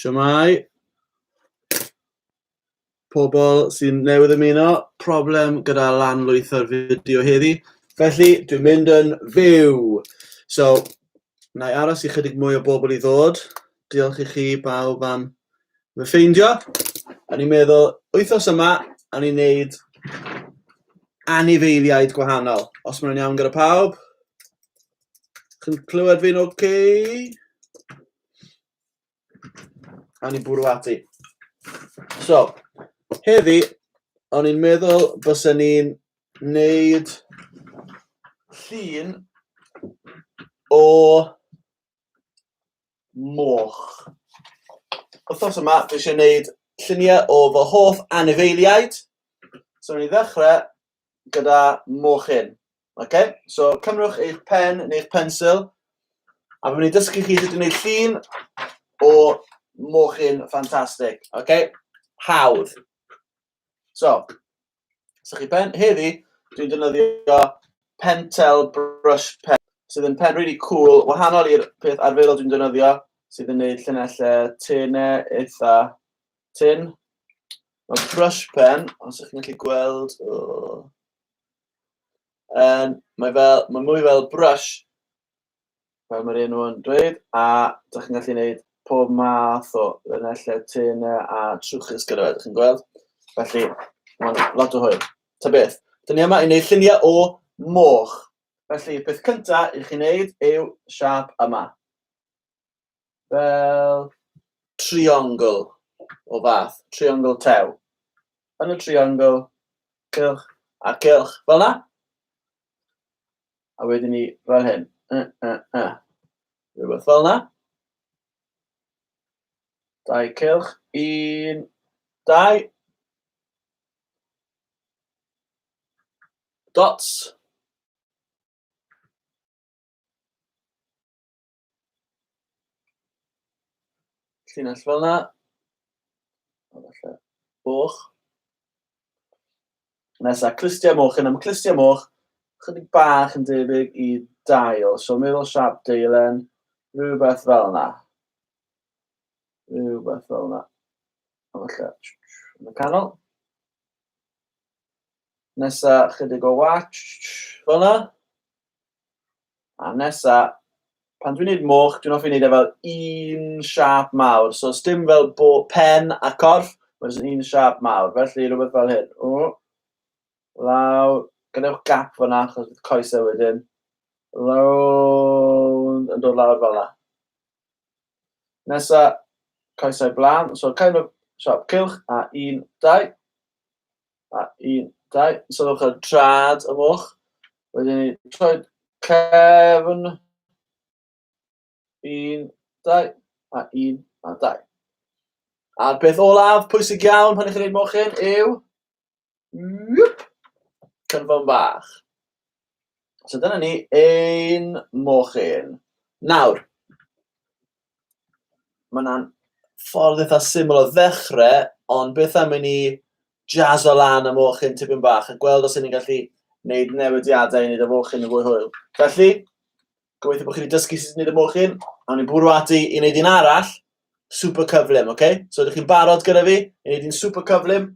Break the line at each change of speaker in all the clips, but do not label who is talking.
Siamai. Pobl sy'n newydd ymuno, problem gyda lan lwytho'r fideo heddi. Felly, dwi'n mynd yn fyw. So, na i aros i chydig mwy o bobl i ddod. Diolch i chi bawb am fy ffeindio. O'n i'n meddwl, wythnos yma, o'n i'n neud anifeiliaid gwahanol. Os mae'n iawn gyda pawb, chi'n clywed fi'n oce? Okay? O'n i'n bwrw ati. So, heddi, o'n i'n meddwl bysen ni'n neud llun o moch. Wythnos yma, dwi eisiau gwneud lluniau o fy hoff anifeiliaid. So, ni'n ddechrau gyda mochyn. Okay? So, cymrwch eich pen neu'ch pensil, a fi'n mynd i dysgu chi sut i wneud llun o mochyn ffantastig. Okay? Hawdd. So, so chi pen, heddi, dwi'n defnyddio Pentel Brush Pen, sydd yn pen really cool, wahanol i'r peth arferol dwi'n defnyddio, sydd yn gwneud llunellau tenau eitha tin. Mae brush pen, os ydych chi'n gallu gweld, oh, um, mae, fel, mae mwy fel brush, fel mae'r enw yn dweud, a dych chi'n gallu gwneud pob math o linellau tenau a trwchus gyda fe, dych chi'n gweld? Felly, mae'n lot o hwyl. Ta beth, dyn ni yma i wneud lluniau o moch. Felly, peth cyntaf i chi wneud yw siâp yma. fel triongl o fath, triongl tew. Yn y triongl, cylch a cylch, fel yna. A wedyn ni fel hyn, y, y, y. Rhywbeth fel yna. Dau cylch, un, dau. Dots. Llinell fel yna. Falle boch. Nesa, clustiau moch. Yna mae clustiau moch chydig bach yn debyg i dail. So meddwl siap deilen, rhywbeth fel yna. Rhywbeth fel yna. Falle, yn y canol. Nesa, chydig o watch, fel yna. A nesa, pan dwi'n neud moch, dwi'n offi neud e fel un siâp mawr. So sdim fel bo- pen a corff, ma' jyst yn un siâp mawr. Felly rwbeth fel hyn. O! Lawr. Gadewch gap fan'na achos bydd coese wedyn. Rownd, yn dod lawr fel 'na. Nesa, coesau blaen. So kind of siâp cylch a un, dau. A un, dau, sylwch ar trad y moch. Wedyn ni troi cefn. Un, dau, a un, a dau. A'r peth olaf, pwysig iawn pan ych chi'n gwneud mochyn, yw... Yep. Cynfon bach. So dyna ni, ein mochyn. Nawr, mae yna'n ffordd eitha syml o ddechrau, ond beth am i ni jazz o lan y mochyn tipyn bach a gweld os ni'n gallu gwneud newidiadau i wneud y mochyn yn fwy hwyl. Felly, gobeithio bod chi wedi dysgu sut i wneud y mochyn, a ni'n bwrw ati i wneud un arall, super cyflym, oce? Okay? So, ydych chi'n barod gyda fi i wneud un super cyflym?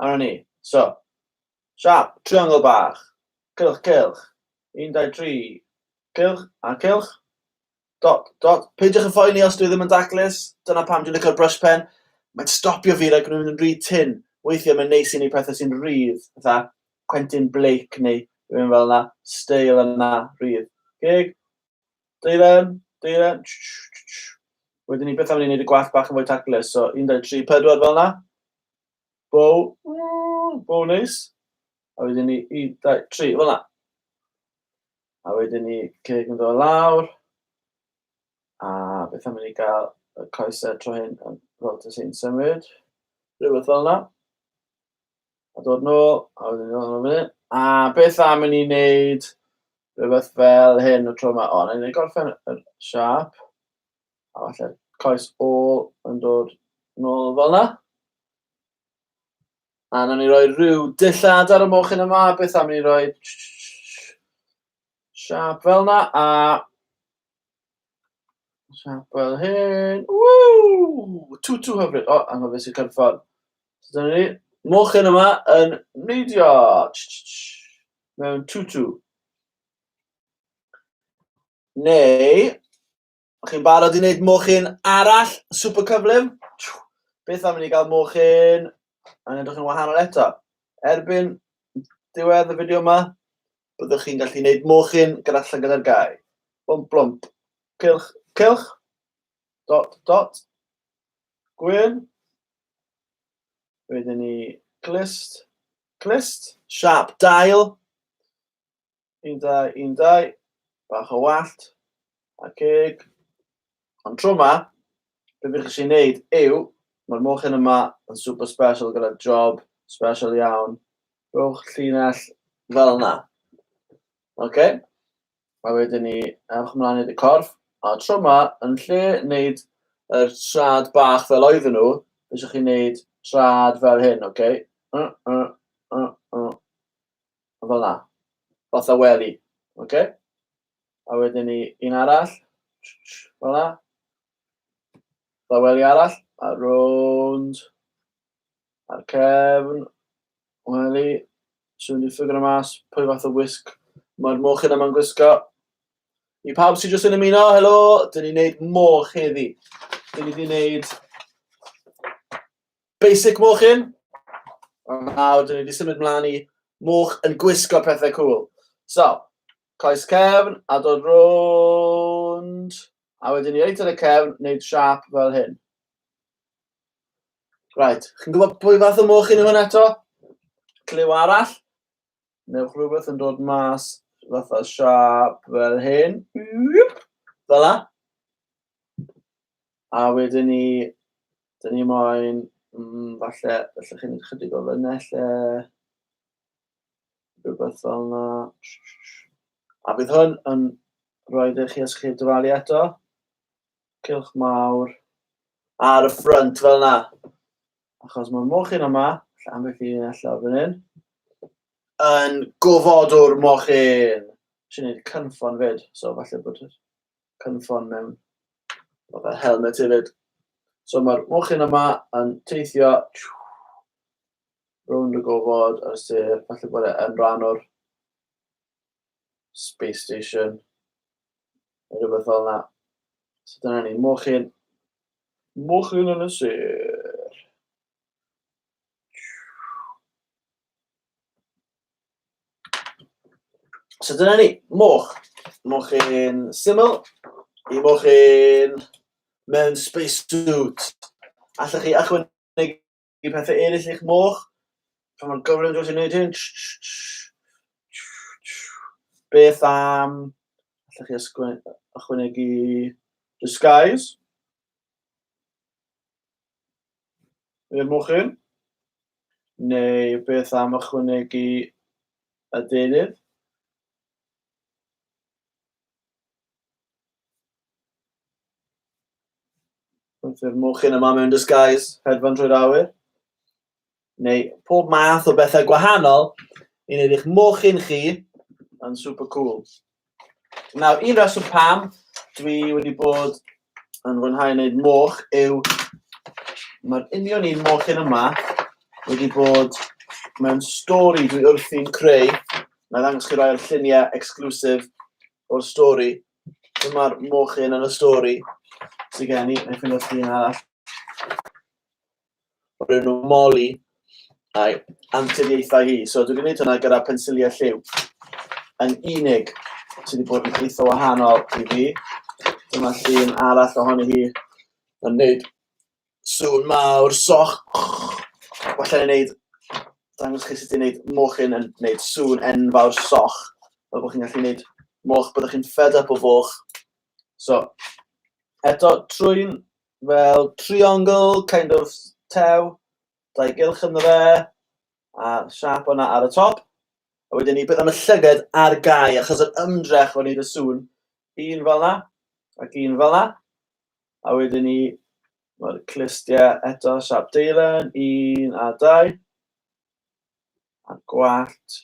A ni. So, Siap! Triongl bach! Cylch, cylch! Un, dau, tri! Cylch, a cylch! Dot, dot! Peidiwch yn phoeni os dwi ddim yn daclus, dyna pam dwi'n licio'r brush pen. Mae'n stopio fi rhag mynd yn rhy tynn. Weithiau mae'n neis i ni pethau sy'n rhydd, fatha Quentin Blake neu rhywun fel yna. Steil yna, rhydd. Gig? Deilen? Deilen? Wedyn ni beth am ni wneud y gwallt bach yn fwy taclus, so un, dau, tri, pedwar fel yna. Bow, mm, bow neis. A wedyn ni, un, dau, tri, fel yna. A wedyn ni ceg yn dod lawr. A beth am i ni gael y coesau tro hyn yn fel dy sy'n symud. Rhywbeth fel yna. A dod nôl, a wedyn ni ôl yn A beth am i ni wneud rhywbeth fel hyn y tro yma. O, na i gorffen y siap. A falle coes ôl yn dod nôl fel yna. A na ni roi rhyw dillad ar y mochyn yma, beth am ni roi siap fel yna, a siap fel hyn, ww, tŵ tŵ hyfryd, o, anghofus i cyrffon. So dyna ni, mochyn yma yn neidio, mewn tŵ tŵ. Neu, O'ch chi'n barod i wneud mochyn arall super cyflym? Beth am i ni gael mochyn yn edrych yn wahanol eto? Erbyn diwedd y fideo yma, byddwch chi'n gallu gwneud mochyn gyda llygad ar gau. Blwmp, blwmp. Cylch, cylch. Dot, dot. Gwyn. Wedyn ni glist, glist. Sharp, dail. Un dau, un dau. Bach o wallt. A cig. Ond tro yma, beth bych eisiau gwneud yw, mae'r mochyn yma yn super special gyda job special iawn. Rhowch llinell fel yna. Oce. Okay. A wedyn ni, ewch ymlaen i'r corff. A tro yma, yn lle wneud yr trad bach fel oedden nhw, beth eisiau chi wneud trad fel hyn, oce? Okay? Uh, uh, uh, uh. fel yna, fatha wely, ocê. A wedyn ni un arall, fel yna. Fatha wely arall, a rownd, a'r cefn, wely. So dwi'n ffigro mas pwy fath o wisg mae'r mochyn yma'n gwisgo. I pawb sydd jyst yn ymuno, helo, dyn ni'n neud moch heddi. Dyn ni wedi neud Basic mochyn. A nawr, dyn ni wedi symud mlaen i moch yn gwisgo pethau cool. So, coes cefn, a dod rownd, a wedyn ni reit ar y cefn, wneud siap fel hyn. Right, chi'n gwybod pwy fath o moch yn hwn eto? Clyw arall. Newch rhywbeth yn dod mas fatha siâp fel hyn. Fel la. A wedyn ni, dyn ni moyn, mm, falle, falle chi'n chydig o lynnell e. Rhywbeth fel yna. A bydd hwn yn rhoi i chi os chi'n dyfalu eto. Cilch mawr. Ar y ffrynt fel yna. achos mae'r mochyn yma, lle am beth i allan fan hyn, yn gofodwr mochyn. Si'n neud cynffon fyd, so falle bod yr cynffon mewn o fel helmet hefyd. So mae'r mochyn yma yn teithio rownd y gofod ar y sir, falle bod e yn rhan o'r space station, neu rhywbeth fel yna. So dyna ni, mochyn. Mochyn yn y sir. So dyna ni, moch. Mochyn syml i mochyn mewn space suit. Allwch chi achwyn i pethau eraill i'ch moch. Pan mae'n gorfod yn gallu gwneud hyn. Beth am... Allwch chi ysgrifennu ychwanegu disguise. I'r mochyn. Neu beth am ychwanegu y deunydd. Wrth i'r mochyn yma mewn disguise hedfan trwy'r awyr. Neu pob math o bethau gwahanol i wneud eich mochyn chi yn super cool. Nawr, un reswm pam dwi wedi bod yn fwynhau wneud moch yw mae'r union un moch yn yma wedi bod mewn stori dwi wrthi'n creu. Mae'n ddangos chi rai o'r lluniau exclusive o'r stori. Dyma'r mochyn yn y stori sydd gen i, neu ffyndoch chi un arall. o'r enw Molly a'i anturiaethau hi. So dwi'n gwneud hwnna gyda pensiliau lliw yn unig sydd wedi bod yn eitha wahanol i fi. Dyma llun arall ohoni hi yn gwneud sŵn mawr, soch. Falle yn gwneud, dangos chi sut i'n gwneud mochyn yn gwneud sŵn enfawr soch. Fel bod chi'n gallu gwneud moch, byddwch chi'n fed up o foch. So, eto, trwy'n fel triongl kind of tew, dau gylch ynddo fe, a siap o'na ar y top. A wedyn ni, beth am y llyged ar gau, achos yr ymdrech o wneud y sŵn, un fel yna, ac un fel yna. A wedyn ni, mae'r clustiau eto, siap deilen, un a dau. A'r gwallt,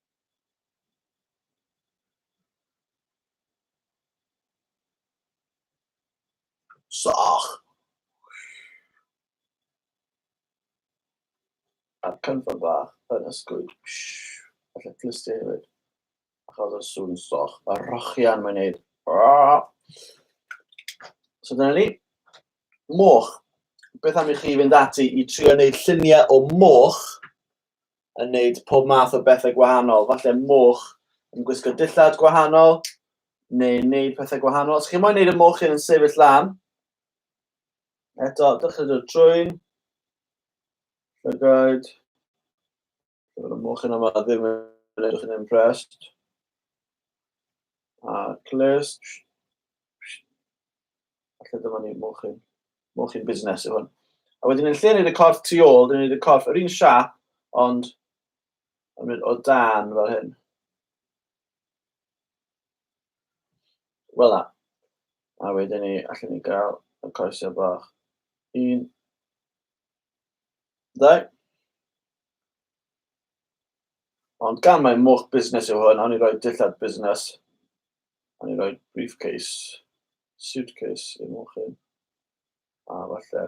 Soch. A'r cynffon bach yn ysgwyd. Felly clustio hefyd. A chael o'r sŵn soch. A rochian mae'n neud. So dyna ni. Moch. Beth am i chi fynd ati i trio wneud lluniau o moch yn wneud pob math o bethau gwahanol. Falle moch yn gwisgo dillad gwahanol, neu wneud pethau gwahanol. Os chi'n moyn wneud y moch hyn yn sefyll lan, eto, dechrau dod trwy'n llygaid. Dyma'r y moch hyn yma ddim yn edrych yn impressed. A clust. Felly dyma ni, mochyn, mochyn busnes yw hwn. A wedyn yn lle wneud y corff tu ôl, dyn ni'n gwneud y corff yr un siap, ond yn mynd o dan fel hyn. Wel na. A wedyn ni, allan ni gael y coesau bach. Un, ddau. Ond gan mae moch busnes yw hwn, awn ni roi dillad busnes. A ni roi briefcase, suitcase yn ôl chi. A falle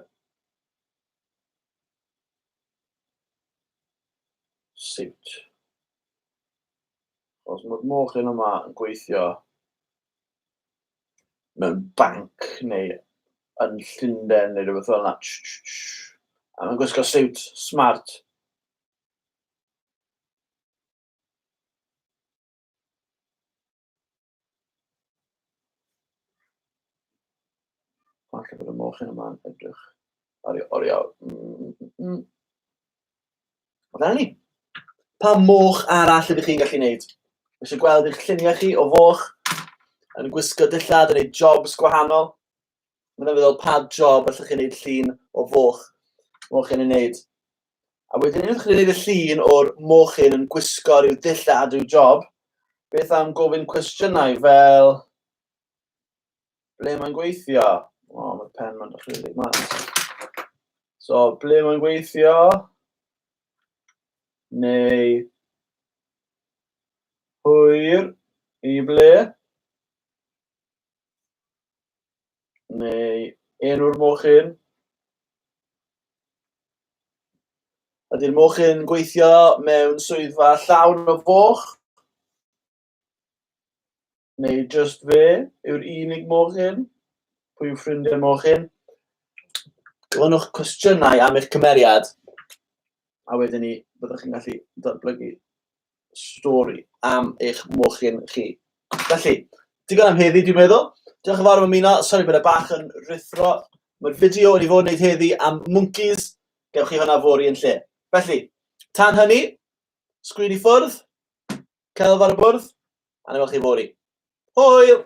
suit. Os mae'r moch yn yma yn gweithio mewn banc neu yn Llundain neu rhywbeth fel yna. A mae'n gwisgo siwt smart. Falle bod y mochyn yma'n edrych ar ei oriau. Mm, mm. Fel ni. Pa moch arall ydych chi'n gallu gwneud? Felly gweld eich lluniau chi o foch yn gwisgo dillad, yn ei jobs gwahanol. Mae'n feddwl pa job allwch chi'n gwneud llun o foch. Moch yn ei wneud. A wedyn unwaith chi'n gwneud y llun o'r mochyn yn gwisgo rhyw dull da drwy job, beth am gofyn cwestiynau fel ble mae'n gweithio? O, mae'r pen ma'n dechrau rhy mas. So, ble mae'n gweithio? Neu hwyr i ble? neu enw'r mochyn. Ydy'r mochyn yn gweithio mewn swyddfa llawn o foch? Neu just fe yw'r unig mochyn? Pwy yw ffrindiau'r mochyn? Gofynnwch cwestiynau am eich cymeriad, a wedyn ni byddwch chi'n gallu datblygu stori am eich mochyn chi. Felly, digon am heddi, dwi'n meddwl. Diolch yn fawr am ymuno. Sori bod e bach yn rithro. Mae'r fideo wedi fod yn gwneud heddi am mwncis. Gewch chi hwnna fori yn lle. Felly, tan hynny, sgwyd i ffwrdd, celf ar y bwrdd, a na chi fori. Hwyl!